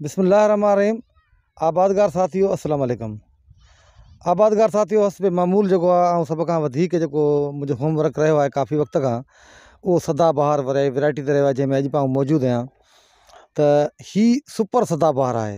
بسم الله الرحمٰن الرحيم آبادگار ساٿيو السلام عليڪم آبادگار ساٿيو حسب معمول جيڪو آ آئون سڀ کان وڌيڪ جيڪو منهنجو هوم ورڪ رهيو آهي ڪافي وقت کان اهو سدا بهار ورايٽي تي رهيو آهي جنهن ۾ اڄ به آئون موجود آهيان ته هي سپر سدا بهار آهي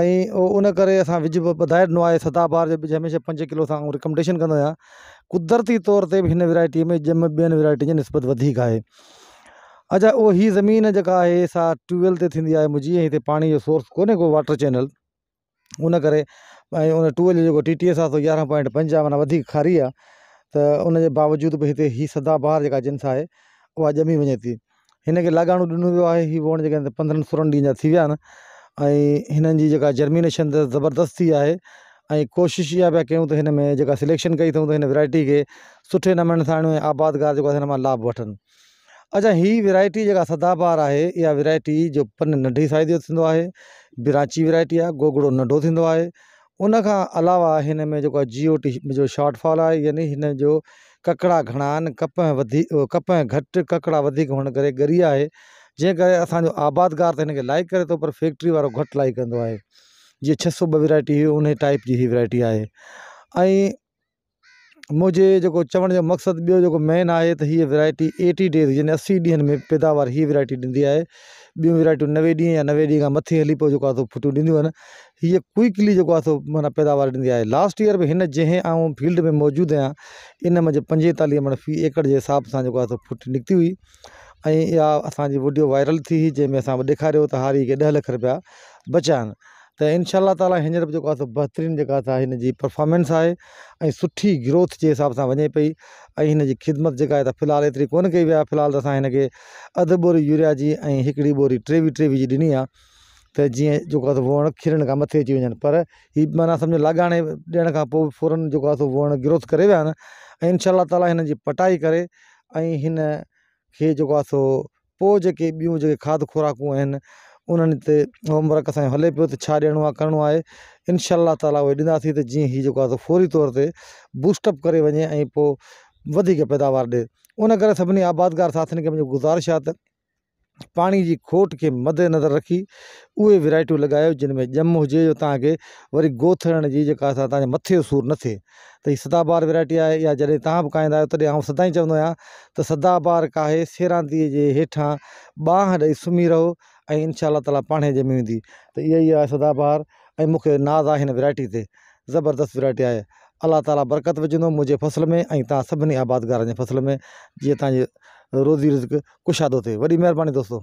۽ ان ڪري اسان وج به وڌائي ڏنو آهي سدا بهار جو وج هميشه پنج ڪلو سان رڪمنڊيشن ڪندو آهيان قدرتي طور تي ھن ويرائٽي ۾ ڄم ٻين ويرائٽي جي نسبت وڌيڪ آهي اچا او ھي زمين جيڪا آهي سا ٽيوبويل تي ٿيندي آهي منھنجي ۽ ھتي پاڻي جو سورس ڪوني ڪو واٽر چينل ان ڪري ۽ ان ٽيوبويل جو جيڪو ٽي ٽي ايس آهي سو يارهن پوائنٽ پنج آهي معنيٰ وڌيڪ کاري آهي ته ان جي باوجود به ھتي ھي سدا بهار جيڪا جنس آهي اها ڄمي وڃي ٿي هن کي لڳاڻو ڏنو ويو آهي هي ووڻ جيڪا هن پندرهن سورهن ڏينهن جا ٿي ويا آهن ۽ هنن جي جيڪا جرمينيشن اٿس زبردست ٿي آهي ۽ ڪوشش اها پيا ڪيون ته هن ۾ جيڪا سليڪشن ڪئي اٿئون ته هن ورايٽي کي سٺي نموني سان آڻيون ۽ آبادگار جيڪو هن مان لابھ وٺن اچا هي ورايٽي جيڪا سدا بهار آهي اها ورايٽي جو پن ننڍي سائز جو ٿيندو آهي براچي ورايٽي آهي گوگڙو ننڍو ٿيندو آهي ان کان علاوه هن ۾ جيڪو آهي جي او ٽي جو شارٽ فال آهي يعني هن جو ڪڪڙا گهڻا آهن ڪپهه وڌي ڪپهه گهٽ ڪڪڙا وڌيڪ هئڻ ڪري ڳري آهي جنهن ڪري اسانجو آبادگار ته هن کي لائڪ ڪري ٿو پر فيڪٽري وارو گهٽ لائڪ ڪندو آهي جيئن ڇهه سو ٻه ويرائٽي هي ان ٽائپ جي هي ويرائٽي آهي ۽ منهنجي جيڪو چوڻ جو مقصد ٻيو جيڪو مين آهي ته هيء ويرائٽي ايٽي ڊيز يعني اسي ڏينهن ۾ پيداوار هيء ويرائٽي ڏيندي آهي ٻيون ويرائٽيون نوي ڏينهن يا نوي ڏينهن کان مٿي هلي پوء جيڪو آهي ڦٽيون ڏينديون آهن هيء ڪوئڪلي جيڪو آهي سو معنيٰ پيداوار ڏيندي آهي لاسٽ ايئر به هن جنهن آئون فيلڊ ۾ موجود آهيان ان منجهه پنجيتاليهه مڙ في ايڪڙ جي حساب سان جيڪو آهي سو ڦٽي نڪتي هئي ۽ اها اسانجي وڊيو وائرل ٿي هئي جنهن ۾ اسان ڏيکاريو ته هاري کي ڏهه لک رپيا بچيا آهن ته انشاء الله تعالٰي هينئر به جيڪو آهي سو بهترين جيڪا سا هن جي پرفامنس آهي ۽ سٺي گروٿ جي حساب سان وڃي پئي ۽ هن جي خدمت جيڪا آهي في الحال ايتري ڪونه ڪئي وئي آهي في الحال اسان هن کي اڌ ٻوري يوريا جي ۽ هڪڙي ٻوري ٽي وي ٽي وي جي ڏني آهي ته جيئن جيڪو آهي سو ووڻ کلڻ کان مٿي اچي وڃن پر هي معنيٰ سمجهو لاڳاڻي ڏيڻ کان پوء فورن جيڪو آهي سو ووڻ گروٿ ڪري ويا آهن ۽ انشاء الله تعالٰي هن جي پٽائي ڪري ۽ هن کي جيڪو آهي سو پوء جيڪي ٻيون جيڪي کاڌ خوراڪون آهن انهن تي هوم ورڪ اسانجو هلي پيو ته ڇا ڏيڻو آهي ڪرڻو آهي انشاء الله تعالٰي اهي ڏناسين ته جيئن هي جيڪو آهي فوري طور تي بوسٽ اپ ڪري وڃي ۽ پوء وڌيڪ پيداوار ڏي ان ڪري سڀني آبادگار ساٿين کي منهنجي گذارش آهي ته پاڻي جي کوٽ کي مد نظر رکي اهي ورايٽيون لڳايو جن ۾ ڄم هجي جو تان کي وري گوٿ هڻڻ جي جيڪا سا تان مٿي جو سور نه ٿئي ته هي سدا بهار ويرائٽي آهي يا جڏهن تهان به کائيندا آهيو تڏهن آئون سدائين چوندو آهيان ته سدا بهار کاهي سيرانتي جي هيٺان ٻانهن ڏئي سمهي رهو ۽ انشاء الله تعاليٰ پاڻ هي ڄمي ويندي ته اها ئي آهي سدا بهار ۽ مون کي ناز آهي هن ويرائٽي تي زبردست ويرائٽي آهي الله تعاليٰ برڪت وجهندو منهنجي فصل ۾ ۽ تهان سڀني آبادگارن جي فصل ۾ جيئن تهانجي روزي رزق ڪشادو ٿئي وڏي مهرباني دوستو